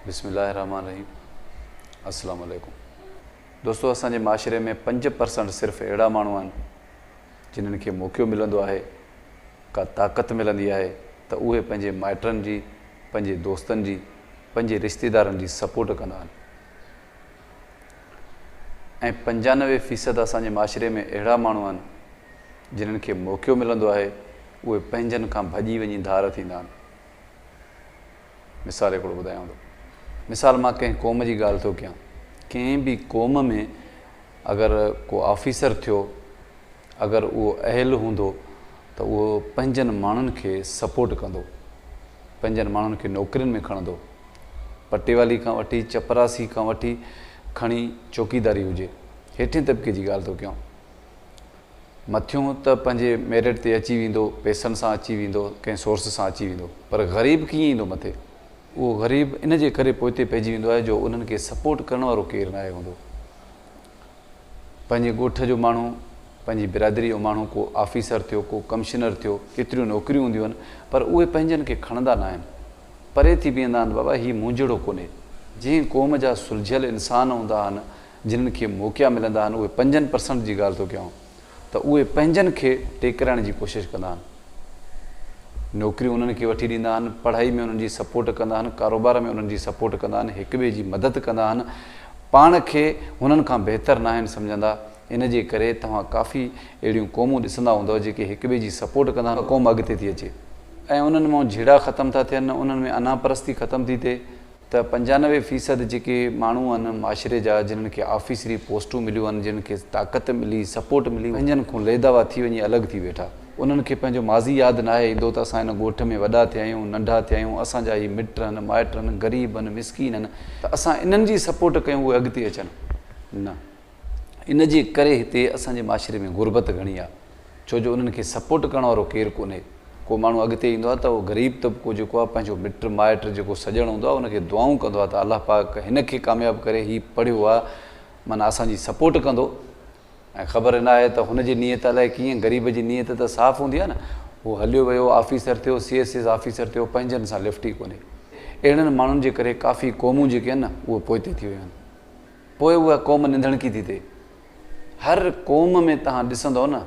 بسم الله الرحمٰن الرحيم السلام عليڪم دوستو اسان جي معاشري ۾ پنج پرسنٽ صرف اهڙا ماڻهو آهن جنھن کي موقعو ملندو آهي ڪا طاقت ملندي آهي ته اهي پنھنجي مائٽن جي پنھنجي دوستن جي پنھنجي رشتيدارن جي سپورٽ ڪندا آهن ۽ پنجانوي فيصد اسان جي معاشري ۾ اهڙا ماڻهو آهن جنھن کي موقعو ملندو آهي اهي پنھنجن کان ڀڄي وڃي ڌار ٿيندا آهن مثال هڪڙو ٻڌايانو ٿو. مثال مان ڪنهن قوم جي ڳالهه ٿو ڪيان. ڪنهن به قوم ۾ اگر ڪو آفيسر ٿيو اگر اهو اهل هوندو ته اهو پنهنجن ماڻهن کي سپورٽ ڪندو. پنهنجن ماڻهن کي نوڪرين ۾ کڻندو. پٽيوالي کان وٺي چپراسي کان وٺي کڻي چوڪيداري هجي هيٺين طبقي جي ڳالهه ٿو ڪيان. مٿيون ته پنهنجي ميرٽ تي اچي ويندو، پيسن سان اچي ويندو، ڪنهن سورس سان اچي ويندو، پر غريب ڪيئن ايندو مٿي؟ اهو غريب ان جي ڪري پوئتي پئجي ويندو آهي جو انهن کي سپورٽ ڪرڻ وارو ڪير ناهي هوندو. پنهنجي ڳوٺ جو ماڻهو، پنهنجي برادريء جو ماڻهو ڪو آفيسر ٿيو، ڪو ڪمشنر ٿيو، ڪيتريون نوڪريون هونديون آهن، پر اهي پنهنجن کي کڻندا ناهن. پري ٿي بيهندا آهن، بابا هي منهنجهڙو ڪونهي. جنهن قوم جا سلجهيل انسان هوندا آهن، جنھن کي موقعا ملندا آھن اھي پنجن پرسنٽ جي ڳالھ ٿو ڪيائون ته اھي پنھنجن کي ٽيڪرائڻ جي ڪوشش ڪندا آھن نوڪريون انھن کي وٺي ڏيندا آھن پڙھائي ۾ انھن جي سپورٽ ڪندا آھن ڪاروبار ۾ انھن جي سپورٽ ڪندا آھن ھڪ ٻئي جي مدد ڪندا آھن پاڻ کي ھنن کان بهتر ناھن سمجھندا ان جي ڪري توھان ڪافي اھڙيون قومون ڏسندا ھوندؤ جيڪي ھڪ ٻئي جي سپورٽ ڪندا آھن قوم اڳتي ٿي اچي ۽ انھن مان جھيڙا ختم ٿا ٿين انھن ۾ انا پرستي ختم ٿي ٿئي. ته پنجانوي فيصد جيڪي ماڻهو آهن معاشري جا جنھن کي آفيسري پوسٽون مليون آهن جنھن کي طاقت ملي سپورٽ ملي پنھنجن کون ليداوا ٿي وڃي الڳ ٿي ويٺا انھن کي پنھنجو ماضي ياد ناهي ايندو ته اسان هن ڳوٺ ۾ وڏا ٿيا آهيون ننڍا ٿيا آهيون اسان جا هي مٽ آهن مائٽ آهن غريب آهن مسڪين آهن ته اسان انھن جي سپورٽ ڪيون اهي اڳتي اچن نه ان جي ڪري هتي اسان جي معاشري ۾ غربت گهڻي آ ڇو جو انهن کي سپورٽ ڪرڻ وارو ڪير ڪونهي ڪو ماڻهو اڳتي ايندو آ ته اهو غريب طبقو جيڪو آ پنهنجو مٽ مائٽ جيڪو سڄڻ هوندو آ ان کي دعائون ڪندو آ ته الله پاڪ هن کي ڪامياب ڪري هي پڙهيو آ معنيٰ اسان جي سپورٽ ڪندو ۽ خبر ناهي ته هن جي نيت الائي ڪيئن غريب جي نيت ته صاف هوندي آ نه هو هليو ويو آفيسر ٿيو سي ايس ايس آفيسر ٿيو پنهنجن سان لفٽ ئي ڪونهي اهڙن ماڻهن جي ڪري ڪافي قومون جيڪي آهن نه اهي پوئتي ٿي ويون آهن. پوء اها قوم ننڌڻڪي ٿي ٿئي. هر قوم ۾ توهان ڏسندؤ نه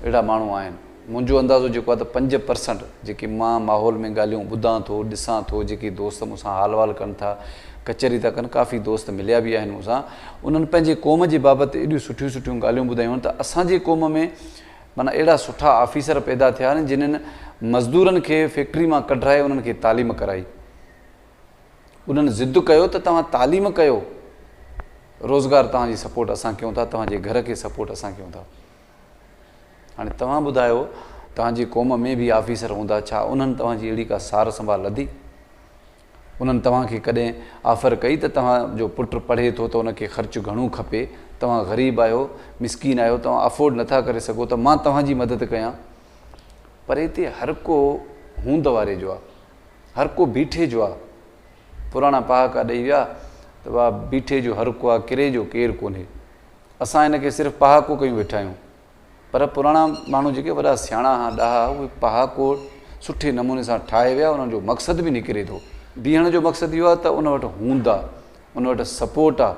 اهڙا ماڻهو آهن. منهنجو اندازو جيڪو آهي ته پنج پرسنٽ جيڪي مان ماحول ۾ ڳالهيون ٻڌان ٿو، ڏسان ٿو، جيڪي دوست مون سان حال وال ڪن ٿا، ڪچهري ٿا ڪن، ڪافي دوست مليا به آهن مون سان، انهن پنهنجي قوم جي بابت ايڏيون سٺيون سٺيون ڳالهيون ٻڌايون آهن ته اسان جي قوم ۾ معنيٰ اهڙا سٺا آفيسر پيدا ٿيا آهن جنهن مزدورن کي فيڪٽري مان ڪڍرائي انهن کي تعليم ڪرائي. انهن ضد ڪيو ته توهان تعليم ڪيو روزگار توهان جي سپورٽ اسان ڪيون ٿا توهان جي گهر کي سپورٽ اسان ڪيون ٿا هاڻي توهان ٻڌايو توهان جي قوم ۾ به آفيسر هوندا ڇا انهن توهان جي اهڙي ڪا سار سنڀال لڌي انهن توهان کي ڪڏهن آفر ڪئي ته توهان جو پٽ پڙهي ٿو ته ان کي خرچ گهڻو کپي توهان غريب آهيو مسڪين آهيو توهان افورڊ نٿا ڪري سگهو ته مان توهان جي مدد ڪيان پر هتي هر ڪو هوند واري جو آهي هر ڪو بيٺي جو آ. پراڻا پهاڪا ڏئي ويا ته واء بيٺي جو هر ڪو آ ڪري جو ڪير ڪونهي. اسان هن کي صرف پهاڪو ڪيون ويٺا آهيون. پر پراڻا ماڻهو جيڪي وڏا سياڻا ها ڏاها ها اهي پهاڪو سٺي نموني سان ٺاهي ويا انهن جو مقصد به نڪري ٿو. بيهڻ جو مقصد اهو آ ته ان وٽ هوند آ ان وٽ سپورٽ آ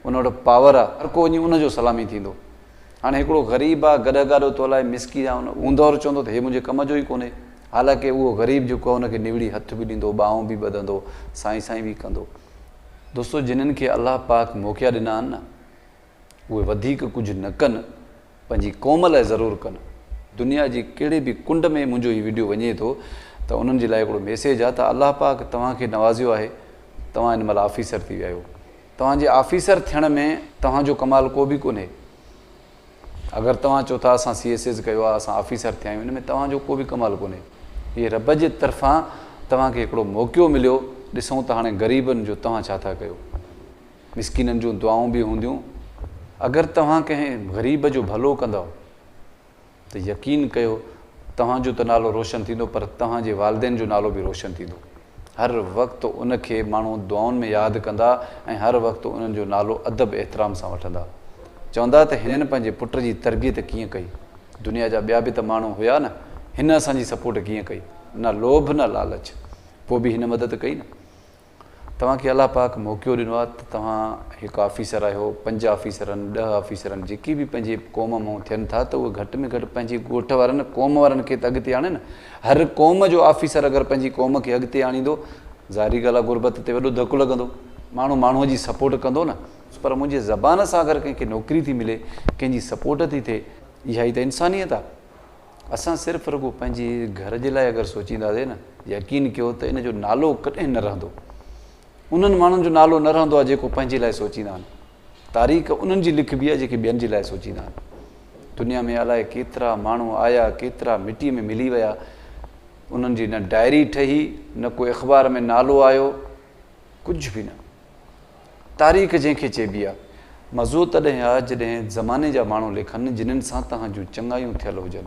ان وٽ پاور آ هر ڪو وڃي ان جو سلامي ٿيندو. هاڻي هڪڙو غريب آ گڏهه گاڏو تولائي مسڪي جا هوند وارو چوندو ته هي منهنجي ڪم جو ئي ڪونهي. حالانڪ اهو غريب جيڪو ان کي نوڙي هٿ به ڏيندو ٻانهون به ٻڌندو سائين سائين به ڪندو. دوستو جنھن کي الله پاڪ موقعا ڏنا آھن نه اهي وڌيڪ ڪجھ نه ڪن پنھنجي قوم لاء ضرور ڪن دنيا جي ڪهڙي به ڪنڊ ۾ منھنجو هي وڊيو وڃي ٿو ته انھن جي لاء هڪڙو ميسيج آ ته الله پاڪ توهان کي نوازيو آهي توهان هن مھل آفيسر ٿي ويا آهيو توهان جي آفيسر ٿيڻ ۾ توهان جو ڪمال ڪو به ڪونھي اگر توهان چئو ٿا اسان سي ايس ايز ڪيو آهي اسان آفيسر ٿيا آهيون ان ۾ توهان جو ڪو به ڪمال ڪونهي هي رب جي طرفان توهان کي هڪڙو موقعو مليو ڏسون ته هاڻي غريبن جو توهان ڇا ٿا ڪيو مسڪينن جون دعائون به هونديون اگر توهان ڪنهن غريب جو ڀلو ڪندؤ ته يقين ڪيو توهان جو ته نالو روشن ٿيندو پر توهان جي والدين جو نالو به روشن ٿيندو هر وقت ان کي ماڻهو دعائن ۾ ياد ڪندا ۽ هر وقت انهن جو نالو ادب احترام سان وٺندا. چوندا ته هنن پنهنجي پٽ جي تربيت ڪيئن ڪئي. دنيا جا ٻيا به ته ماڻهو هيا نه. هن اسان جي سپورٽ ڪيئن ڪئي. نه لوڀ نه لالچ. پوء به هن مدد ڪئي نه. توهان کي الله پاڪ موقعو ڏنو آهي ته توهان هڪ آفيسر آهيو، پنج آفيسرن، ڏهه آفيسرن جيڪي به پنهنجي قوم مئن ٿين ٿا ته اهي گهٽ ۾ گهٽ پنهنجي ڳوٺ وارن قوم وارن کي ته اڳتي آڻين نه. هر قوم جو آفيسر اگر پنهنجي قوم کي اڳتي آڻيندو، ظاهري ڳالهه آهي غربت تي وڏو ڌڪ لڳندو، ماڻهو ماڻهوء جي سپورٽ ڪندو نه، پر منهنجي زبان سان اگر ڪنهن کي نوڪري ٿي ملي، ڪنهن جي سپورٽ ٿي ٿئي، اها ئي ته انسانيت آهي. اسان صرف رڳو پنهنجي گهر جي لاء اگر سوچينداسين نه، يقين ڪيو ته ان جو نالو ڪڏهن نه رهندو. انهن ماڻهن جو نالو نه رهندو آهي جيڪو پنهنجي لاء سوچيندا آهن. تاريخ انهن جي لکبي آهي جيڪي ٻين جي لاء سوچيندا آهن. دنيا ۾ الائي ڪيترا ماڻهو آيا ڪيترا مٽيء ۾ ملي ويا انهن جي نه ڊائري ٺهي نه ڪو اخبار ۾ نالو آيو ڪجهه به نه تاريخ جنهن کي چئبي آهي. مزو تڏهن آهي جڏهن زماني جا ماڻهو لکن جنهن سان توهان جون چڱايون ٿيل هجن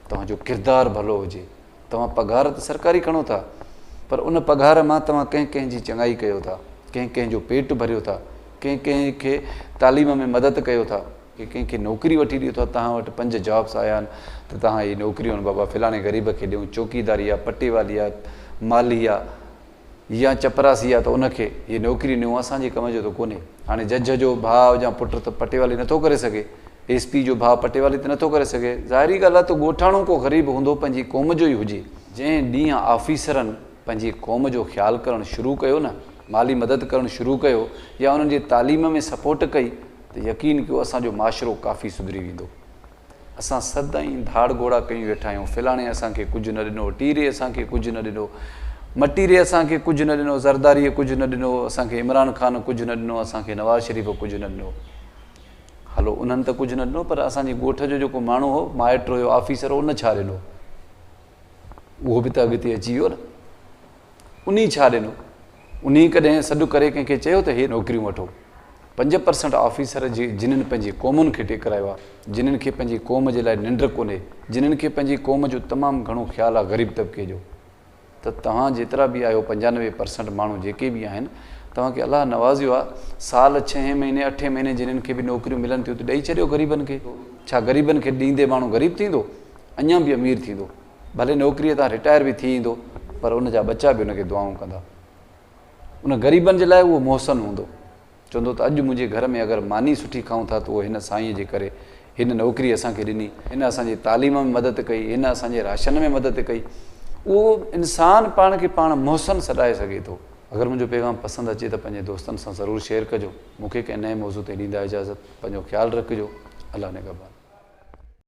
توهان جو ڪردار ڀلو هجي. توهان پگهار ته سرڪاري کڻو ٿا پر ان پگهار مان توهان ڪنهن ڪنهن جي چڱائي ڪيو ٿا، ڪنهن ڪنهن جو پيٽ ڀريو ٿا، ڪنهن ڪنهن کي تعليم ۾ مدد ڪيو ٿا، ڪنهن ڪنهن کي نوڪري وٺي ڏيو ٿا، توهان وٽ پنج جابس آيا آهن ته توهان اهي نوڪريون بابا فلاڻي غريب کي ڏيون، چوڪيداري آ، پٽيوالي آ، مالهي آ، يا چپراسي آ ته ان کي هيء نوڪري نيون اسان جي ڪم جو ته ڪونهي. هاڻي جج جو ڀاء يا پٽ ته پٽيوالي نٿو ڪري سگهي، ايس پي جو ڀاء پٽيوالي ته نٿو ڪري سگهي، ظاهري ڳالهه آ ته ڳوٺاڻو ڪو غريب هوندو پنهنجي قوم جو ئي هجي. جنهن ڏينهن آفيسرن پنهنجي قوم جو خيال ڪرڻ شروع ڪيو نه، مالي مدد ڪرڻ شروع ڪيو يا انهن جي تعليم ۾ سپورٽ ڪئي ته يقين ڪيو اسان جو معاشرو ڪافي سڌري ويندو. اسان سد ۽ ڌاڙ گهوڙا ڪيون ويٺا آهيون، فلاڻي اسان کي ڪجهه نه ڏنو، ٽيري اسان کي ڪجهه نه ڏنو، مٽيري اسان کي ڪجهه نه ڏنو، زرداريء ڪجهه نه ڏنو، اسان کي عمران خان ڪجهه نه ڏنو، اسان کي نواز شريف ڪجهه نه ڏنو. هلو انهن ته ڪجهه نه ڏنو پر اسان جي ڳوٺ جو جيڪو ماڻهو هو، مائٽ هيو، آفيسر هو، ان ڇا ڏنو؟ اهو به ته اڳتي اچي ويو نه. انهي ڇا ڏنو؟ انهي ڪڏهن سڏ ڪري ڪنهن کي چيو ته هي نوڪريون وٺو؟ پنج پرسنٽ آفيسر جي جنن پنهنجي قومن کي ٽيڪرايو آ، جنن کي پنهنجي قوم جي لاء ننڊ ڪونهي، جنن کي پنهنجي قوم جو تمام گهڻو خيال آ غريب طبقي جو ته توهان جيترا به آهيو پنجانوي پرسنٽ ماڻهو جيڪي به آهن توهان کي الله نوازيو آ سال ڇهين مهيني اٺين مهيني جنن کي به نوڪريون ملن ٿيون ته ڏئي ڇڏيو غريبن کي ڇا غريبن کي ڏيندي ماڻهو غريب ٿيندو؟ اڃان به امير ٿيندو. ڀلي نوڪريء تان رٽائر به ٿي ايندو پر ان جا ٻچا به ان کي دعائون ڪندا. ان غريبن جي لاء اهو محسن هوندو. چوندو ته اڄ منهنجي گهر ۾ اگر ماني سٺي کائون ٿا ته اهو هن سائينء جي ڪري، هن نوڪري اسان کي ڏني، هن اسان جي تعليم ۾ مدد ڪئي، هن اسان جي راشن ۾ مدد ڪئي. اهو انسان پاڻ کي پاڻ محسن سڏائي سگهي ٿو. اگر منهنجو پيغام پسند اچي ته پنهنجي دوستن سان ضرور شيئر ڪجو. مون کي ڪنهن نئين موضوع تي ڏيندا اجازت. پنهنجو خيال رکجو. الله نگهبان.